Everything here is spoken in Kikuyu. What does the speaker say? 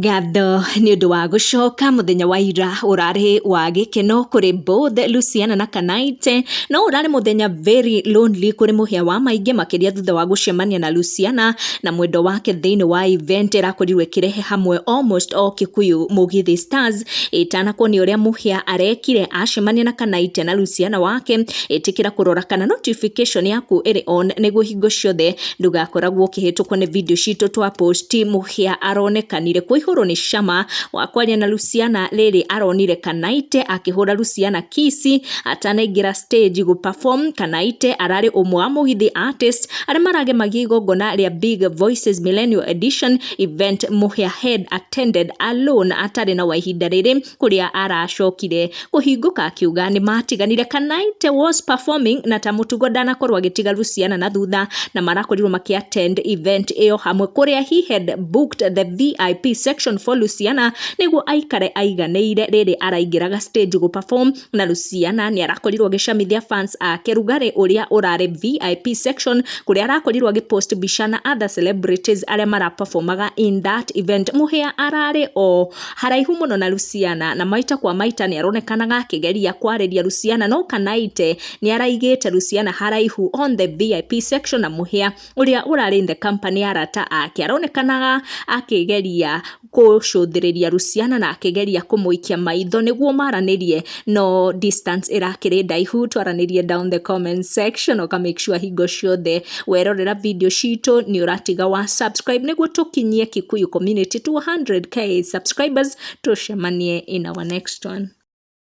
Ngatho nĩ ũndũ wa gũcoka mũthenya wa ira ũrarĩ wa gĩkeno kũrĩ both Luciana na Kanaite, no ũrarĩ mũthenya very lonely kũrĩ mũhĩa wa maingĩ makĩria thutha wa gũcemania na Luciana na mwendwa wake thĩinĩ wa event ĩrakorirwo ĩkĩrehe hamwe almost all Kikuyu Mugithi Stars. Ĩtanakwo nĩ ũrĩa mũhĩa arekire acemania na Kanaite na Luciana wake, ĩtĩkĩra kũrora kana notification yaku ĩrĩ on nĩguo hingo ciothe... Ndũgakoragwo ũkĩhĩtũkwo nĩ video citũ twa post mũhĩa aronekanire kũihũrwo nĩ cama wa kwaria na Luciana rĩrĩ aronire Kanaite akĩhũra Luciana kisi atanaingĩra stage gũ perform Kanaite ararĩ ũmwe wa mũgithi artist arĩa maragemagia igongona rĩa Big Voices Millennial Edition event mũhĩa head attended alone atarĩ na wa ihinda rĩrĩ kũrĩa aracokire kũhingũka akiuga nĩ matiganire Kanaite was performing na ta mũtugo ndanakorwo agĩtiga Luciana na thutha na marakorirwo makĩ attend event ĩyo hamwe kũrĩa he had booked the VIP section for Luciana nĩguo aikare aiganĩire rĩrĩ araingĩraga stage gũ perform na Luciana nĩ arakorirwo agĩcamithia fans ake rugarĩ ũrĩa ũrarĩ VIP section kũrĩa arakorirwo agĩ post mbica na other celebrities arĩa maraperformaga in that event mũhĩa ararĩ o Haraihu mũno na Luciana na maita kwa maita nĩaronekanaga akĩgeria kwarĩria Luciana no Kanaite nĩaraigĩte Luciana haraihu on the VIP section na mũhĩa ũrĩa ũrarĩ in the company ya arata ake aronekanaga akĩgeria kũcũthĩrĩria Luciana na akĩgeria kũmũikia maitho nĩguo maranĩrie no distance ĩrakĩrĩ ndaihu twaranĩrie down the comment section ũka make sure hingo ciothe werorera video citũ nĩ ũratiga wa subscribe nĩguo tũkinyie kikuyu community 200k subscribers tũcemanie in our next one